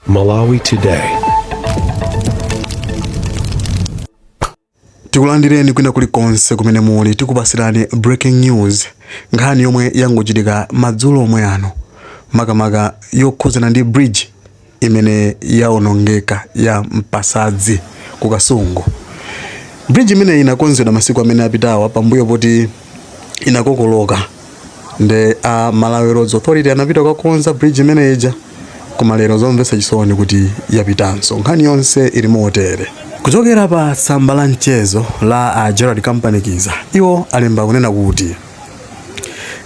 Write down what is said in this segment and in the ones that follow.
Malawi Today. tikulandireni kwina kulikonse kumene muli tikupasirani breaking news nkhani yomwe yangochitika madzulo omwe ano makamaka yokhudzana ndi bridge imene yaonongeka ya mpasadzi ku kasungu bridge imeneyi inakonzedwa masiku amene apitawa pambuyo poti inakokoloka nde a Malawi Roads Authority anapita kukakonza bridge imene ija koma lero zomvetsa chisoni kuti yapitanso nkhani yonse ili motere kuchokera pa tsamba la mchezo la a Gerald Kampanikiza iwo alemba kunena kuti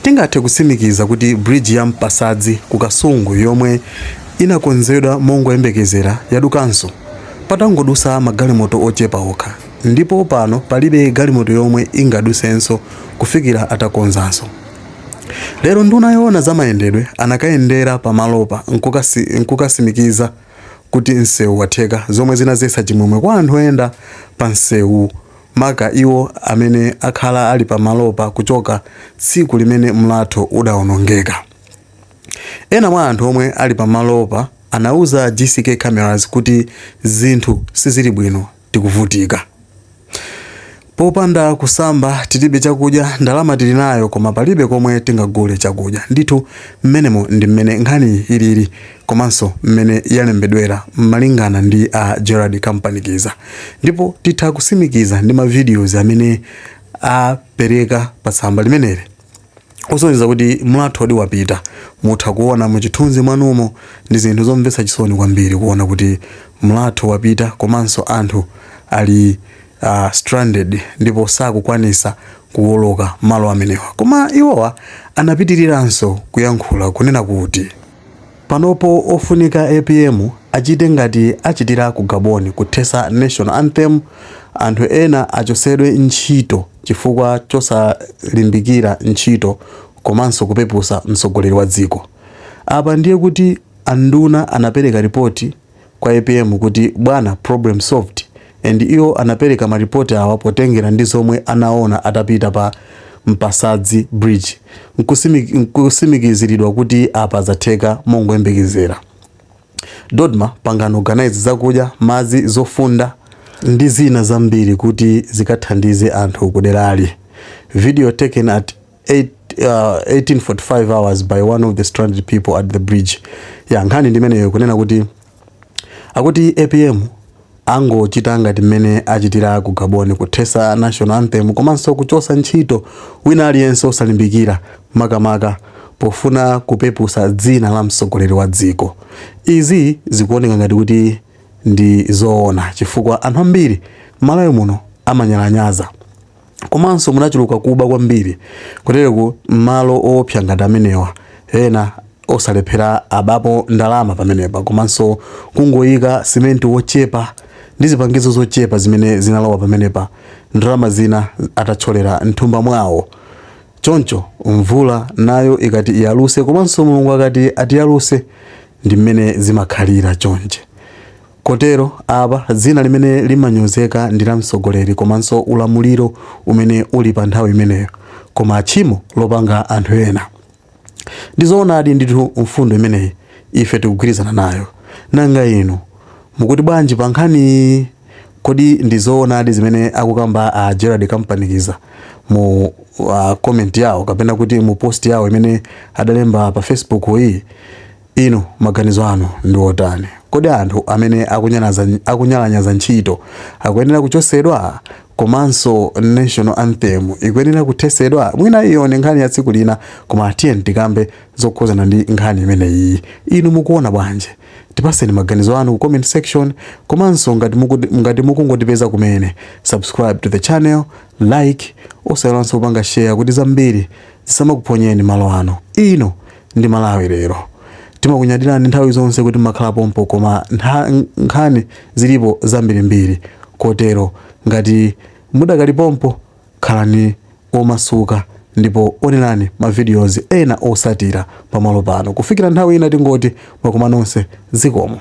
tingathe kutsimikiza kuti bridge ya mpasadzi ku kasungu yomwe inakonzedwa mongoyembekezera yadukanso patangodusa magalimoto ochepa okha ndipo pano palibe galimoto yomwe ingadusenso kufikira atakonzanso. Lero nduna yoona za mayendedwe anakayendera pa malopa nkukasimikiza kuti msewu watheka zomwe zinazetsa chimwemwe kwa anthu oyenda pa msewu maka iwo amene akhala ali pa malopa kuchoka tsiku limene mlatho udaonongeka. Ena mwa anthu omwe ali pa malopa anauza GCK Cameras kuti zinthu sizili bwino. tikuvutika. Popanda kusamba tilibe chakudya, ndalama tili nayo koma palibe komwe tingagule chakudya. Ndithu mmenemo ndi mmene nkhaniyi ilili komanso mmene yalembedwera malingana ndi a Gerald Kampanikiza. Ndipo titha kusimikiza ndi ma videos amene apereka pa tsamba limeneli. osonyeza kuti mlathowodi wapita. Mutha kuona muchithunzi mwanumo ndi zinthu zomvetsa chisoni kwambiri kuona kuti mlatho wapita komanso anthu ali uh, stranded ndipo sakukwanisa kuwoloka malo amenewa. Koma iwowa anapitiriranso kuyankhula kunena kuti Panopo ofunika apm achite ngati achitira ku Gabon kuthesa national anthem anthu ena achosedwe ntchito chifukwa chosalimbikira ntchito komanso kupepusa mtsogoleri wa dziko. Apa ndiye kuti anduna anapereka report. kwa apm kuti bwana problem solved and iwo anapereka ma report awa potengera ndi zomwe anaona atapita pa Mpasadzi bridge nkusimikiziridwa kuti apa zatheka mongoyembekezera dodma pangani organize zakudya madzi zofunda ndi zina zambiri kuti zikathandize anthu kuderali video taken at 1845 hours by one of the stranded people at the bridge ya nkhani ndi imeneyo kunena kuti akuti apm angochita ngati mmene achitira ku gabon kuthesa national anthem komanso kuchosa ntchito wina aliyense osalimbikira makamaka pofuna kupepusa dzina la mtsogoleri wa dziko izi zikuoneka ngati kuti ndi zoona chifukwa anthu ambiri malawi muno amanyalanyaza komanso munachuluka kuba kwambiri kutereku m'malo oopsa ngati amenewa ena osalephera abapo ndalama pamenepa komanso kungoyika simenti wochepa ndi zipangizo zochepa zimene zinalowa pamenepa ndalama zina atatsholera mthumba mwawo choncho mvula nayo ikati iyaluse komanso mulungu akati atiyaluse ndi mmene zimakhalira chonchi Kotero, apa, dzina limene limanyozeka ndi la mtsogoleri komanso ulamuliro umene uli pa nthawi imeneyo, koma tchimo lopanga anthu ena. Ndi zoonadi ndithu mfundo imeneyi, ife tikugwirizana nayo. Nanga inu mukuti bwanji pa nkhaniyi? Kodi ndi zoonadi zimene akukamba a Gerald Kampanikiza mu comment yawo kapena kuti mu post yawo imene adalemba pa Facebook yi? Inu maganizo anu ndi otani? Kodi anthu amene akunyalanyaza ntchito akuyenera kuchosedwa? Komanso national anthem ikuyenera kuthesedwa? Mwina iyo ndi nkhani ya tsiku lina koma tiyeni tikambe zokhuzana ndi nkhani imeneyiyi. Inu mukuona bwanji? Tipaseni maganizo anu ku comment section komanso ngati mukungotipeza kumene subscribe to the channel, like, osaiwalanso kupanga share kuti zambiri zisamakuphonyeni malo ano. Inu. ndi malawi lero timakunyadirani nthawi zonse kuti mmakhala pompo koma nkhani zilipo zambirimbiri kotero ngati mudakali pompo khalani omasuka ndipo onerani ma videos ena osatira pamalo pano kufikira nthawi ina tingoti mwakoma nonse zikomo